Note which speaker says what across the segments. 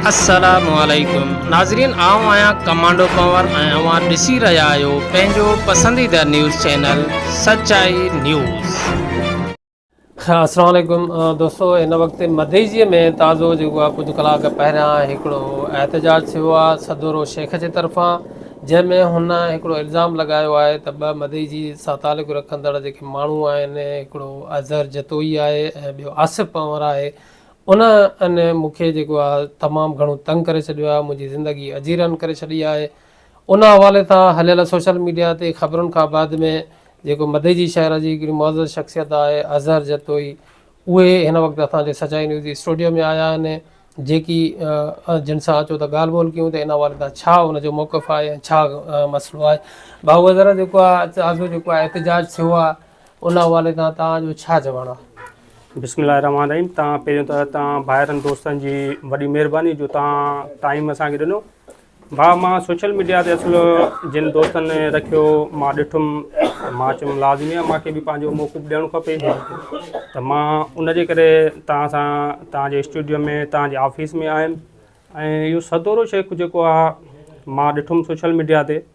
Speaker 1: السلام عليڪم ناظرين آئون آهيان ڪمانڊو ڪنور ۽ اوهان ڏسي رهيا آهيو پنهنجو پسنديده نيوز چينل سچائي نيوز. السلام عليڪم دوستو هن وقت مديجي ۾ تازو جيڪو آهي ڪجهه ڪلاڪ پهريان هڪڙو احتجاج ٿيو آهي سدورو شيخ جي طرفان جنهن ۾ هن هڪڙو الزام لڳايو آهي ته ٻه مديجي سان تعلق رکندڙ جيڪي ماڻهو آهن هڪڙو اظهر جتوئي آهي ۽ ٻيو آصف پنور آهي ان ان مون کي جيڪو آ تمام گهڻو تنگ ڪري ڇڏيو آ منهنجي زندگي اجيرن ڪري ڇڏي آهي ان حوالي سان هليل سوشل ميڊيا تي خبرن کان بعد ۾ جيڪو مديجي شهر جي هڪڙي معزز شخصيت آهي اظهر جتوئي اهي هن وقت اسان جي سچائي نيوز اسٽوڊيو ۾ آيا آهن جيڪي جن سان اچو ته ڳالهه ٻولهه ڪيون ته ان حوالي سان ڇا ان جو موقف آهي ۽ ڇا مسئلو آهي ڀائو اظهر جيڪو آ آزو جيڪو آ احتجاج ٿيو آ ان حوالي تان توهان جو ڇا چوڻ آ؟ بسم الله الرحمٰن
Speaker 2: الرحيم توهان پهريون ته توهان ڀائرن دوستن جي وڏي مهرباني جو توهان ٽائيم اسان کي ڏنو ڀاء مان سوشل ميڊيا تي اصل جن دوستن رکيو مان ڏٺم مان چيم لازمي آ مانکي به پنهنجو موقف ڏيڻ کپي ته مان ان جي ڪري توهان سان توهان جي اسٽوڊيو ۾ توهان جي آفيس ۾ آيم ۽ اهو سدورو شيخ جيڪو آ مان ڏٺم سوشل ميڊيا تي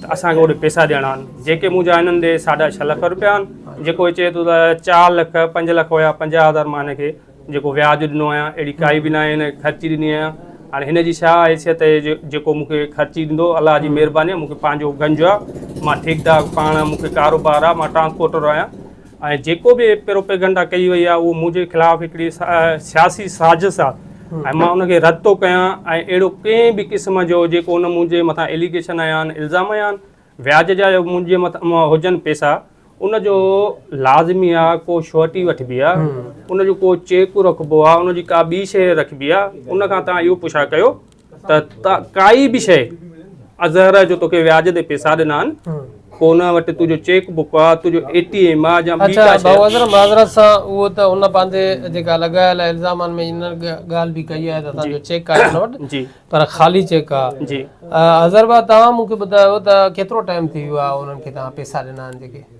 Speaker 2: ته اسان کي اوڏي پئسا ڏيڻا آهن جيڪي منهنجا هنن ڏي ساڍا ڇهه لک روپيا آهن جيڪو هي چئي ٿو ته چار لک پنج لک هيا پنجاهه هزار مان هن کي جيڪو وياج ڏنو آهيان اهڙي ڪائي به ناهي هن کي خرچي ڏني آهيان هاڻي هن جي ڇا حيثيت اهي جو جيڪو مون کي خرچي ڏيندو الله جي مهرباني مون کي پنهنجو گنج آهي مان ٺيڪدار پاڻ مون کي ڪاروبار آهي مان ٽرانسپورٽر آهيان ۽ جيڪو به پروپيگنڊا ڪئي وئي آهي اهو منهنجي خلاف هڪڙي سياسي سازش آهي ۽ مان ان کي رد ٿو ڪيان ۽ اهڙو ڪنهن به قسم جو جيڪو ان منهنجي مٿان اليگيشن هنيا آهن الزام هنيا آهن وياج جا منهنجي مٿان هجن پيسا ان جو لازمي آهي ڪو شوئرٽي وٺبي آهي ان جو ڪو چيڪ رکبو آهي ان جي ڪا ٻي شيء رکبي آهي ان کان تان اهو پڇا ڪيو ته ڪائي به شيء اظهر جو توکي وياج تي پيسا ڏنا آهن پوء ان وٽ تنهنجو چيڪ بڪ آ تنهنجو اي ٽي ايم آ يا ٻي ڪا شيء اچا ڀائو اظهر معذرت
Speaker 1: سان اهو ته هن پنهنجي جيڪا لڳايل آهي الزامن ۾ ان ڳالهه به ڪئي آهي ته اسان جو چيڪ آهي هن وٽ پر خالي چيڪ آ اظهر ڀاء توهان مون کي ٻڌايو ته ڪيترو ٽائيم ٿي ويو آهي انهن کي توهان پيسا ڏنا آهن جيڪي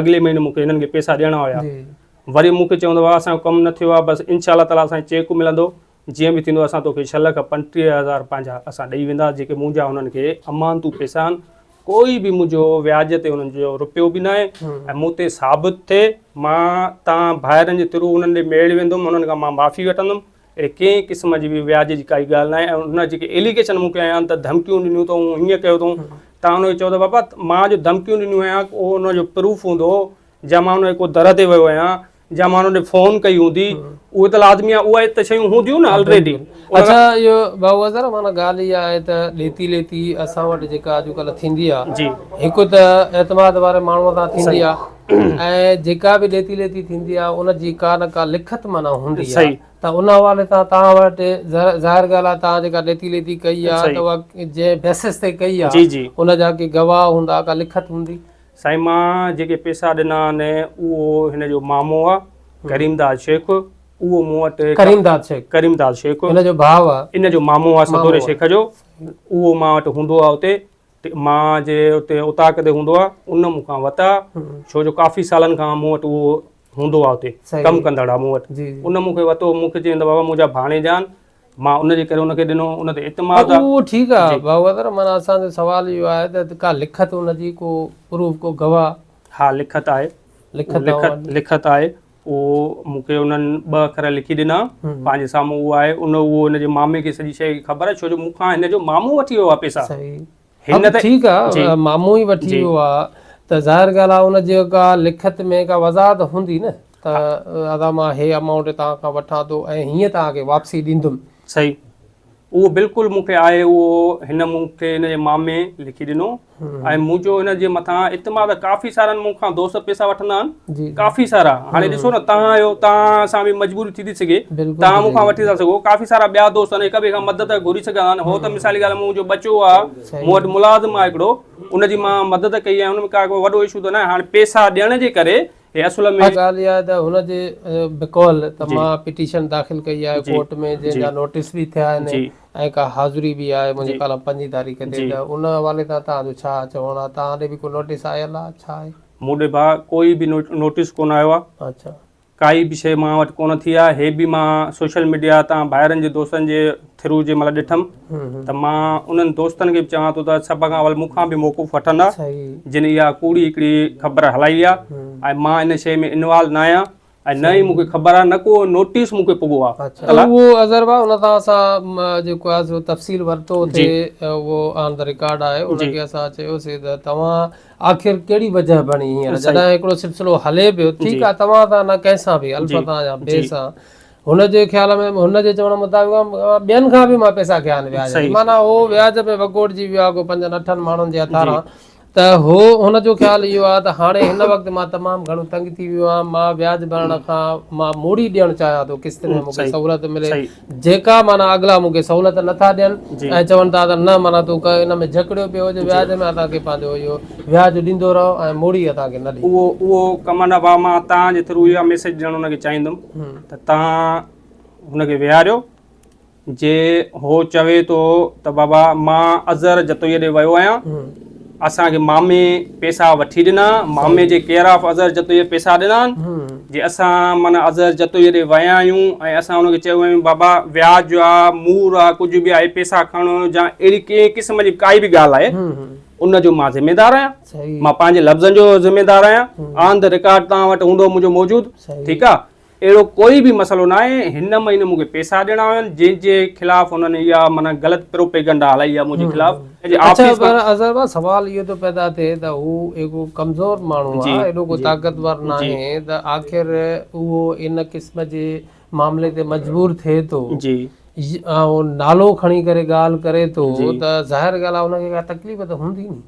Speaker 2: اڳلي مهيني مون کي هنن کي پئسا ڏيڻا هيا وري مون کي چوندو هو اسان جو ڪم نه ٿيو آهي بس انشاء الله تعالي اسان کي چيڪ ملندو جيئن به ٿيندو اسان توکي ڇهه لک پنٽيهه هزار پنهنجا اسان ڏئي ويندا جيڪي منهنجا هنن کي امانتون پئسا آهن ڪوئي به منهنجو وياج تي هنن جو روپيو به ناهي ۽ مون تي ثابت ٿئي مان تان ڀائرن جي ٿرو هنن ڏي ميڙ ويندم هنن کان مان معافي وٺندم اهڙي ڪنهن قسم جي به وياج جي ڪائي ڳالهه ناهي ۽ هن جيڪي ايليگيشن مون کي هنيا ته ڌمڪيون ڏنيون اٿئون هيئن ڪيو اٿئون تان هن کي چئو ته بابا مان جو ڌمڪيون ڏنيون هيا اهو هن جو پروف هوندو جا مان هن جي ڪو در تي ويو هيا جا مان هن ڏي فون ڪئي هوندي اهي ته لازمي آهي اهي ته شيون هونديون نه آلريڊي اچا اهو
Speaker 1: بابو اظهر معنی ڳالهه اها آهي ته ڏيتي ليتي اسان وٽ جيڪا اڄڪلهه ٿيندي آهي جي هڪ ته اعتماد واري ماڻهو سان ٿيندي آهي ۽ جيڪا به ڏيتي ليتي ٿيندي آهي ان جي ڪا نه ڪا لکت معنيٰ هوندي آهي ته ان حوالي سان توهان وٽ ظاهر ڳالهه آهي توهان جيڪا ڏيتي ليتي ڪئي آهي ته اها جنهن بيسس تي ڪئي آهي ان جا ڪي گواهه هوندا ڪا لکت هوندي. سائين مان
Speaker 2: جيڪي پيسا ڏنا آهن اهو هن جو مامو آهي ڪريم داد شيخ اهو مون وٽ ڪريم داد شيخ ڪريم داد شيخ هن جو ڀاء آهي ان
Speaker 1: جو مامو آهي ستوري
Speaker 2: شيخ جو اهو مان وٽ هوندو آهي اتي مان جي اتي اوطاق تي هوندو آ ان مون کان وتا ڇو جو ڪافي سالن کان مون وٽ اهو هوندو آ اتي ڪم ڪندڙ آ مون وٽ ان مون کي وتو مون کي چين ته بابا منهنجا ڀاڻيجان مان ان جي ڪري ان کي ڏنو ان تي اعتماد آ اهو ٺيڪ آ بابا
Speaker 1: مانا اسان جو سوال اهو آهي ته ڪا لکت ان جي ڪو پروف ڪو گواهه ها لکت آهي
Speaker 2: لکت لکت آهي هو مون کي انهن ٻه اکر لکي ڏنا پنهنجي سامهون هو آهي ان هو ان جي مامي کي سڄي شيء جي خبر آهي ڇو جو مون کان هن جو مامو وٺي ويو آهي پيسا هن ته
Speaker 1: ٺيڪ آهي مامو ئي وٺي ويو آهي ته ظاهر ڳالهه آهي ان جي ڪا لکت ۾ ڪا وضاحت هوندي نه ته ادا مان هي امائونٽ توهان کان وٺان ٿو ۽ هيئن توهان کي واپسي ڏيندم صحيح
Speaker 2: اهو بلڪل مون کي آهي اهو هن مون کي هن جي مامي لکي ڏنو ۽ منهنجو هن جي مٿان اعتماد ڪافي سارن مون کان دوست پيسا وٺندا آهن ڪافي سارا هاڻي ڏسو نه تان آهيو تان سان به مجبوري ٿي ٿي سگهي تان مون کان وٺي ٿا سگهو ڪافي سارا ٻيا دوست هڪ ٻئي کان مدد گهري سگهندا آهن هو ته مثالي ڳالهه منهنجو ٻچو آهي مون وٽ ملازم آهي هڪڙو ان جي مان مدد ڪئي آهي ان ۾ ڪا وڏو اشو ته نه آهي هاڻي پيسا ڏيڻ جي ڪري هي اصل ۾. ڳالهه اها آهي ته هن جي
Speaker 1: بقول ته مان پٽيشن داخل ڪئي آهي ڪورٽ ۾ جنهن جا نوٽيس به ٿيا آهن ۽ ڪا حاضري به آهي منهنجي ڪالم پنجين تاريخ تي ته ان حوالي سان توهان جو ڇا چوڻ آهي توهان ڏي به ڪو نوٽيس آيل آهي ڇا آهي؟ مون ڏي ڀاء ڪوئي
Speaker 2: به نوٽيس ڪونه آيو آهي اڇا ڪائي به
Speaker 1: شيء مان
Speaker 2: وٽ ڪونه ٿي آهي هي به مان سوشل ميڊيا تان ڀائرن جي دوستن جي ٿرو جنهن مهل ڏٺم ته مان انهن دوستن کي به چوان ٿو ته سڀ کان اول مون کان به موقف وٺندا جن اها ڪوڙي هڪڙي خبر هلائي آهي ۽ مان ان شيء ۾ انوالو نه آهيان ۽ نه ئي مون کي خبر آهي نه ڪو نوٽيس مون کي پڳو آهي اهو اظهر ڀاء ان
Speaker 1: تان اسان جيڪو آهي سو تفصيل ورتو اتي اهو آن ته رڪارڊ آهي ان کي اسان چيوسي ته توهان آخر ڪهڙي وجه بڻي هينئر جڏهن هڪڙو سلسلو هلي پيو ٺيڪ آهي توهان سان نه ڪنهن سان به البته يا بي سان هن جي خيال ۾ هن جي چوڻ مطابق ٻين کان به مان پئسا کيا آهن وياج تي معنيٰ هو وياج ۾ وڳوڙجي ويو آهي ڪو پنجن اٺن ماڻهن جي هٿاران ته هو هن جو خيال اهو آهي ته هاڻي هن وقت مان تمام گهڻو تنگ ٿي ويو آهيان مان وياج ڀرڻ کان مان موڙي ڏيڻ چاهيان ٿو قسط ۾ مونکي سهولت ملي جيڪا معنيٰ اڳلا مونکي سهولت نٿا ڏين ۽ چون ٿا ته نه معنيٰ تون ان ۾ جهڪڙيو پيو هج وياج ۾ اسان کي پنهنجو اهو وياج ڏيندو رهو ۽ موڙي اسان کي نه ڏي اهو اهو ڪمن
Speaker 2: ابا مان توهان جي ٿرو اها ميسيج ڏيڻ هن کي چاهيندم ته تان هن کي ويهاريو. جي هو چوي ٿو ته بابا مان اظهر جتوئيء ڏي ويو آهيان. اسان کي مامي پيسا وٺي ڏنا. مامي جي ڪيئر آف اظهر جتوئيء پيسا ڏنا آهن. جي اسان معنيٰ اظهر جتوئيء ڏي ويا آهيون ۽ اسان هن کي چيو آهيون بابا وياج آ، مور آ، ڪجهه به آهي پيسا کڻ جا اهڙي ڪنهن قسم جي ڪائي به ڳالهه آهي ان جو مان ذميدار آهيان. مان پنهنجي لفظن جو ذميدار آهيان آن ذا رڪارڊ توهان وٽ هوندو منهنجو موجود ٺيڪ آهي اهڙو ڪوئي به مسئلو نه آهي هن مهيني مون کي پيسا ڏيڻا هيا جنهن جي خلاف هنن اها معنيٰ غلط پروپيگنڊا هلائي آهي منهنجي خلاف
Speaker 1: اظهر بھا سوال اهو ٿو پيدا ٿئي ته هو ايڪو ڪمزور ماڻهو آهي ايڏو ڪو طاقتور نه آهي ته آخر اهو ان قسم جي معاملي تي مجبور ٿئي ٿو نالو کڻي ڪري ڳالهه ڪري ٿو ته ظاهر ڳالهه آهي ان کي ڪا تڪليف ته هوندي ني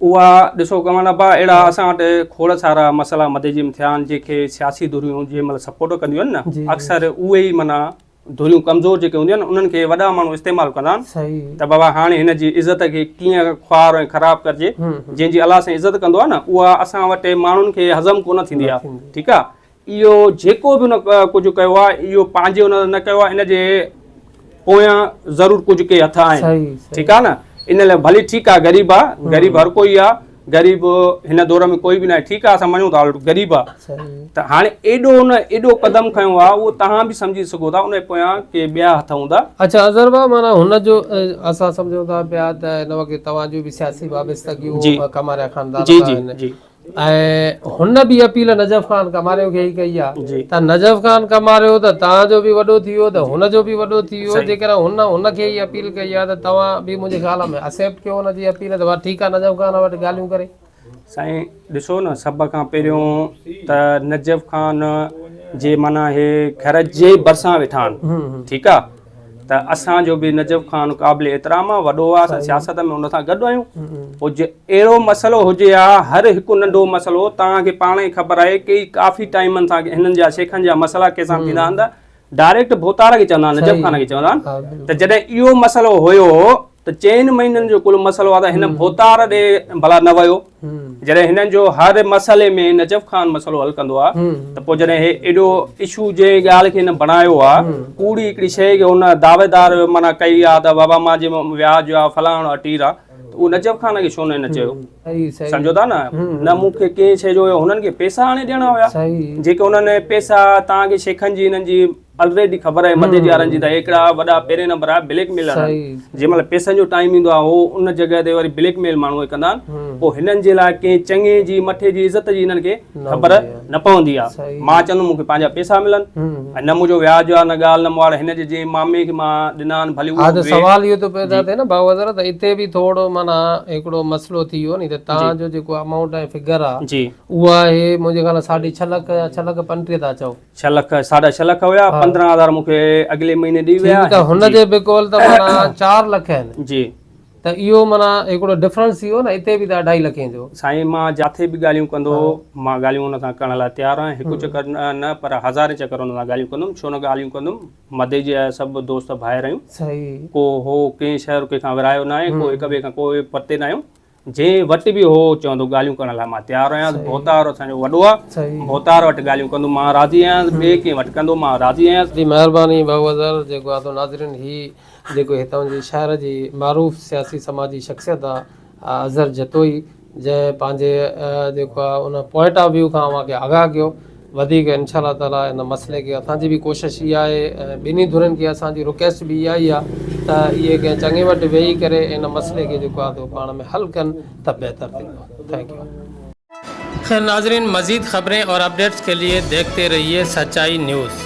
Speaker 1: اها
Speaker 2: ڏسو ڪمال ابا اهڙا اسان وٽ کوڙ سارا مسئلا مدي جم ٿيا آهن جنهن کي سياسي ڌريون جنهن مهل سپورٽ ڪنديون آهن نه اڪثر اهي ئي معنيٰ ڌريون ڪمزور جيڪي هونديون آهن انهن کي وڏا ماڻهو استعمال ڪندا آهن ته بابا هاڻي هن جي عزت کي ڪيئن خوار ۽ خراب ڪرجي جنهن جي الله سائين عزت ڪندو آهي نه اها اسان وٽ ماڻهن کي هضم ڪونه ٿيندي آهي ٺيڪ آهي اهو جيڪو به هن ڪجهه ڪيو آهي اهو پنهنجي هن نه ڪيو آهي ان جي پويان ضرور ڪجهه ڪي هٿ آهن ٺيڪ آهي نه ان لاء ڀلي ٺيڪ آهي غريب آهي غريب هر ڪوئي آهي غريب هن دور ۾ ڪوئي به نه آهي ٺيڪ آهي اسان مڃون ٿا غريب آهي ته هاڻي ايڏو هن ايڏو قدم کنيو آهي اهو تهان به سمجهي سگهو ٿا ان جي پويان ڪي ٻيا هٿ هوندا اچا اظهر بابا مانا
Speaker 1: هن جو اسان سمجهون ٿا پيا ته هن وقت توهان جو به سياسي وابستگيون ڪماريا خاندان سان آهن ۽ هن به اپيل نجف خان ڪماريو کي ئي ڪئي آهي ته نجف خان ڪماريو ته توهان جو به وڏو ٿي ويو ته هن جو به وڏو ٿي ويو جيڪڏهن هن هن کي ئي اپيل ڪئي آهي ته توهان به منهنجي خيال ۾ اسيپٽ ڪيو هن جي اپيل ته ٺيڪ آهي نجف خان وٽ ڳالهيون ڪري سائين
Speaker 2: ڏسو نه سڀ کان پهريون ته نجف خان جي معنيٰ هي گهر جي ڀرسان ويٺا آهن ٺيڪ آهي ته اسان جو به نجف خان قابل احترام آ وڏو آ اسان سياست ۾ ان سان گڏ آهيون او جي اهڙو مسئلو هجي آ هر هڪ ننڍو مسئلو توهان کي پاڻ ئي خبر آهي ڪي ڪافي ٽائيم سان هنن جا شيخن جا مسئلا ڪي سان ٿيندا آهن ته ڊائريڪٽ ڀوتار کي چوندا آهن نجف خان کي چوندا آهن ته جڏهن اهو مسئلو هيو ته چئن مهينن جو ڪل مسئلو آهي ته هن ڀوتار ڏي ڀلا نه ويو جڏهن هنن جو هر مسئلي ۾ نجف خان مسئلو حل ڪندو آهي ته پوء جڏهن هي ايڏو اشو جي ڳالهه کي هن بڻايو آهي ڪوڙي هڪڙي شيء کي هن دعويدار معنيٰ ڪئي آهي ته بابا مان جي وياج آهي فلاڻ آهي ٽير آهي اهو نجف خان کي ڇو نه هن چيو سمجهو ٿا نه نه مون کي ڪنهن شيء جو هنن کي پيسا آڻي ڏيڻا هيا جيڪي هنن پيسا تان کي شيخن جي هنن جي الريڊي خبر آهي مڌيا جي وارن جي ته هڪڙا وڏا پهرين نمبر آهي بليڪ ميلر جنهن مهل
Speaker 1: پيسن جو
Speaker 2: ٽائيم ايندو آهي هو ان جڳهه تي وري بليڪ ميل ماڻهو کي ڪندا آهن پوء هنن جي لاء ڪنهن چڱي جي مٺي جي عزت جي هنن کي خبر نه پوندي آهي مان چوندم مون کي پنهنجا
Speaker 1: پيسا
Speaker 2: ملن ۽ نه منهنجو وياج آهي نه ڳالهه نه مواڙ هن جي جنهن مامي کي مان ڏنا آهن ڀلي اهو به سوال اهو ٿو پيدا
Speaker 1: ٿئي نه بابا حضرت هتي به ٿورو معنيٰ هڪڙو مسئلو ٿي ويو ني ته توهان جو جيڪو امائونٽ ۽ فگر آهي اهو آهي
Speaker 2: منهنجي
Speaker 1: خيال سان ساڍي ڇهه لک يا ڇهه لک پنٽيهه ٿا چئو ڇهه لک ساڍا ڇهه
Speaker 2: لک هيا پندرهن هزار مون کي اڳلي مهيني ڏي ويا ته هن جي به قول
Speaker 1: ته مانا چار لک آهن جي ته
Speaker 2: اهو مانا
Speaker 1: هڪڙو ڊفرنس ٿي ويو نه هتي به ته اڍائي لکين جو سائين مان جاٿي
Speaker 2: به ڳالهيون ڪندو مان ڳالهيون ان سان ڪرڻ لاء تيار آهيان هڪ چڪر نه پر هزارين چڪر ان سان ڳالهيون ڪندم ڇو نه ڳالهيون ڪندم مدي جي سڀ دوست ڀائر آهيون صحيح ڪو هو ڪنهن شهر ڪنهن کان ورهايو نه آهي ڪو هڪ ٻئي کان ڪو پرتي نه آهيون جنهن وٽ به هو چوندو ڳالهيون ڪرڻ لاء مان تيار آهيان ڀوتار اسان جو وڏو آهي ڀوتار وٽ ڳالهيون
Speaker 1: ڪندو
Speaker 2: مان راضي آهيان ٻئي ڪنهن وٽ ڪندو مان راضي آهيان. جي مهرباني
Speaker 1: بهوضر جيڪو آدو ناظرين هي جيڪو هتان جي شهر جي معروف سياسي سماجي شخصيت آ اظهر جتوئي جنهن پنهنجي جيڪو آ ان پوائنٽ آف ويو کان اوهان کي آگاهه ڪيو وڌيڪ انشاء الله تعاليٰ ان مسئلي کي اسان جي به ڪوشش اها آهي ۽ ٻنهي ڌرين کي اسان جي رڪويسٽ به اها ئي آهي ته اهي ڪنهن چڱي وٽ ويهي ڪري ان مسئلي کي جيڪو آهي سو پاڻ ۾ حل ڪن ته بهتر ٿيندو. Thank you. خير ناظرين مزيد خبرين اور اپڈيٽس کے لئے ديکھتے رھيئے سچائي نيوز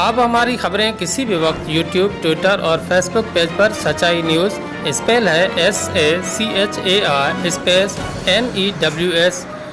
Speaker 1: آپ ھماري خبرين کسي بھي وقت يوٽيوب ٽوئيٽر اور فيس بوڪ پيج پر سچائي نيوز اسپيل ھي S A C H A I space N E W S